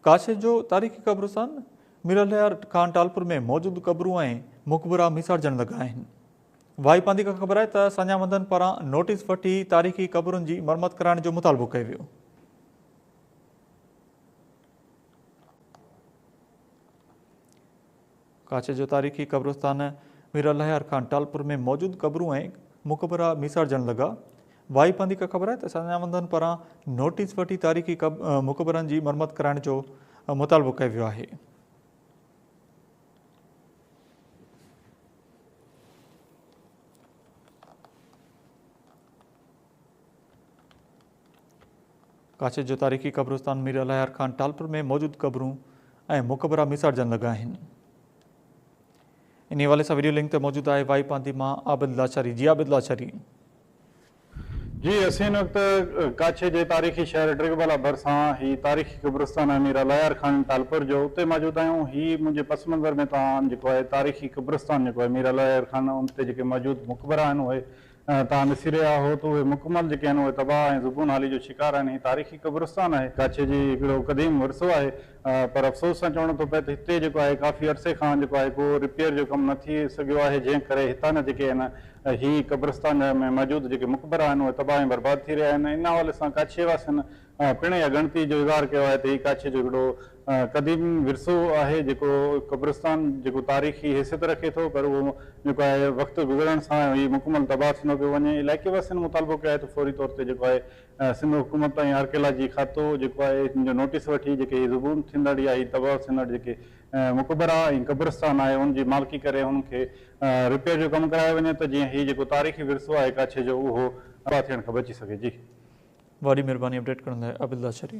ڪاشي جو تاريخي قبرستان ميرالهيار کان ٽالپور ۾ موجود قبرون ۽ مقبرا ميسارجڻ لڳا آهن. وائي پاندي کان خبر آهي ته سڃاوندن پاران نوٽيس وٺي تاريخي قبرن جي مرمت ڪرائڻ جو مطالبو ڪيو ويو. ڪاڇ جو تاريخي قبرستان مير الهيار خان ٽالپور ۾ موجود قبرون ۽ مقبرا ميسارجڻ لڳا. وائي پندي کان خبر آهي ته سڃاوندن پاران نوٽيس وٺي تاريخي مقبرن جي مرمت ڪرائڻ جو مطالبو ڪيو ويو آهي. ڪاڇي جو تاريخي قبرستان مير الهيار خان ٽالپر ۾ موجود قبرون ۽ مقبرا ميساڙجڻ لڳا آهن انهي حوالي سان ويڊيو لنڪ تي موجود آهي وائي پاندي مان عابد لاچاري جي عابد لاچاري جي اسين هن وقت ڪاڇي جي تاريخي شهر ڊرگبالا ڀرسان هي تاريخي قبرستان آهي مير الهيار خان ٽالپر جو اتي موجود آهيون هي منهنجي پس منظر ۾ توهان جيڪو آهي تاريخي قبرستان جيڪو آهي مير الهيار خان ان تي جيڪي موجود مقبرا آهن اهي توهان ڏسي رهيا آهو ته اهي مڪمل جيڪي آهن اهي تباهه ۽ زبون حالي جو شڪار آهن. هي تاريخي قبرستان آهي. ڪاڇي جي هڪڙو قديم ورثو آهي پر افسوس سان چوڻو ٿو پئي ته هتي جيڪو آهي ڪافي عرصي کان جيڪو آهي ڪو رپيئر جو ڪم نه ٿي سگهيو آهي جنهن ڪري هتان جا جيڪي آهن هي قبرستان ۾ موجود جيڪي مقبرا آهن اهي تباهه ۽ برباد ٿي رهيا آهن. ان حوالي سان ڪاڇي واسين پڻ اها ڳڻتي جو اظهار ڪيو آهي ته هي ڪاڇي جو هڪڙو قديم ورثو آهي جيڪو قبرستان جيڪو تاريخي حيثيت رکي ٿو پر اهو جيڪو آهي وقت گذرڻ سان هي مڪمل تباهه ٿيندو پيو وڃي علائقي واسين مطالبو ڪيو آهي ته فوري طور تي جيڪو آهي سنڌ حڪومت ۽ آرڪيالاجي کاتو جيڪو آهي ان جو نوٽيس وٺي جيڪي هي زبون ٿيندڙ يا هي تباهه ٿيندڙ جيڪي مقبرا ۽ قبرستان آهي ان جي مالڪي ڪري انهن کي رپيئر جو ڪم ڪرايو وڃي ته جيئن هي جيڪو تاريخي ورثو آهي ڪاڇي جو اهو تباهه ٿيڻ کان بچي سگهي جي. وڏي مھرباني اپڊيٽ ڪرڻ لاء عابد لاشاري.